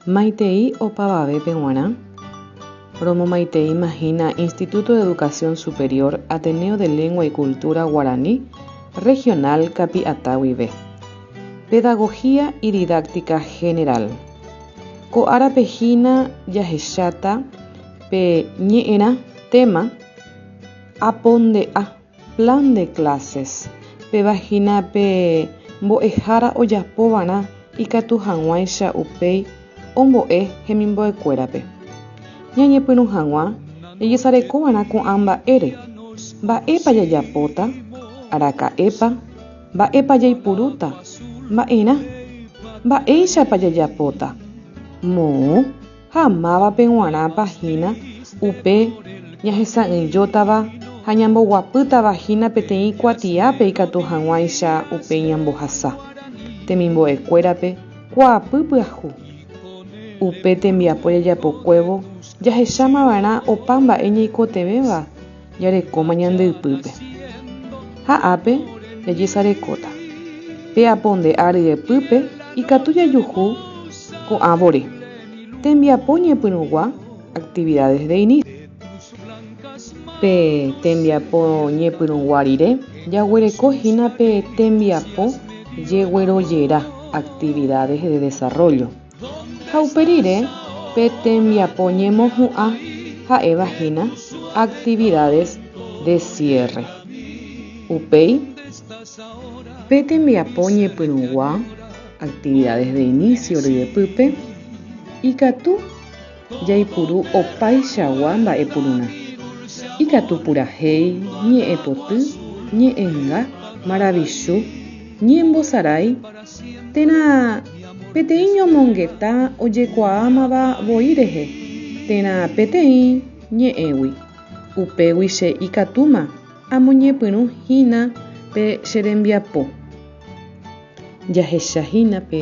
Maitei opavavépe g̃uarã, romomaiteíma hína Instituto de Educación Superior Ateneo de Lengua y Cultura Guaraní Regional Capiatã guive. Pedagogía y Didáctica General. Ko árape hína jahecháta pe ñe'ẽrã téma Aponde'a. Plan de clases, Péva hína pe mbo'ehára ojapovarã ikatu hag̃uáicha upéi ombo'e hemimbo'ekuérape. Ñañepyrũ hag̃ua jajesarekova'erã ko'ã mba'ére, Mba'épa jajapóta? Araka'épa? Mba'épa jaipurúta? Mba'erã? Mba'éichapa jajapóta? Moõ? ha mávape g̃uarãpa hína upe ñahesa'ỹijótava ha ñamboguapýtava hína peteĩ kuatiápe ikatu hag̃uáicha upe ñambohasa temimbo'ekuérape kuaapy pyahu. Upe tembiapo jajapokuévo jahechamava'erã opa mba'e ñaikotevẽva jarekóma ñande ypýpe. Ha ápe jajesarekóta, pe apo nde áa ryepýpe ikatu jajuhu ko'ã vore, tembiapo ñepyrũgua, actividades de inicio. Pe tembiapo ñepyrũgua rire jaguereko hína pe tembiapo jeguerojera, actividades de desarrollo. Ha upe rire, pe tembiapo ñemohu'ã ha'éva hína actividades de cierre. Upéi, pe tembiapo ñepyrũgua, actividades de inicio ryepýpe, ikatu Jaipuru opaichagua mba'epururã, ikatu purahéi, ñe'ẽpoty, ñe'ẽnga, maravichu, ñembosarái, térã peteĩ ñomongeta ojekuaámava voi rehe, térã peteĩ ñe'ẽgui. Upégui che ikatúma amoñepyrũ hína pe che rembiapo. Jahecha hína pe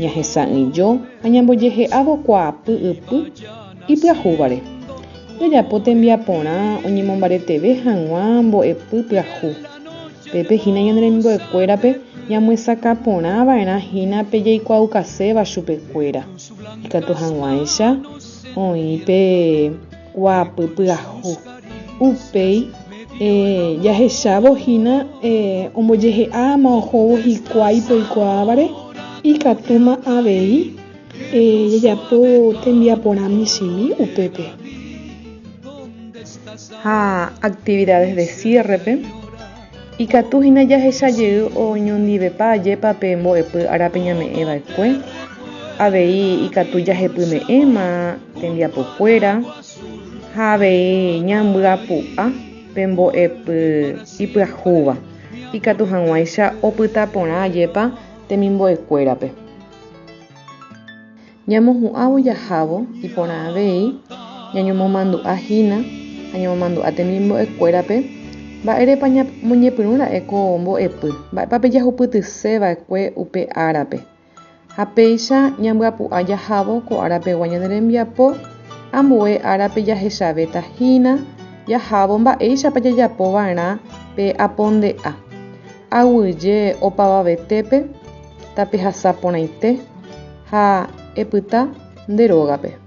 ñahesa'ỹijo ha ñambojehe'ávo kuaapy ypy ipyahúvare. Jajapo tembiaporã oñemombareteve hag̃ua mbo'epy pyahu. Pépe hína ñane remimbo'ekuérape ñamyesakã porã va'erã hína pe jaikuaaukaséva chupekuéra, ikatu hag̃uáicha oĩ pe. Kuaapy pyahu. Upéi jahechávo hína ombojehe'a ama ohóvo hikuái peikuaávare, ikatúma avei jajapo tembiaporã michĩmi upépe. Ha actividades de cierre-pe. Ikatu hína jahecha jey oñondivepa ajépa pe mbo'epy ára pe ñame'ẽ va'ekue. Avei ikatu jahepyme'ẽma tembiapokuéra ha avei ñambyapu'a pe mbo'epy ipyahúva, ikatu hag̃uáicha opyta porã ajépa temimbo'ekuérape. Ñamohu'ãvo jahávo iporã avei ñañomomandu'a hína ha ñamomandu'a temimbo'ekuérape mba'érepa ñamoñepyrũ ra'e ko mbo'epy, mba'épa pejahupytyse va'ekue upe árape. Ha péicha ñambyapu'a jahávo ko ára pegua ñane rembiapo, ambue árape jahechavéta hína jahávo mba'éichapa jajapo va'erã pe aponde'a, aguyje opavavetépe, tapehasa porãite, Ha epyta nde rógape.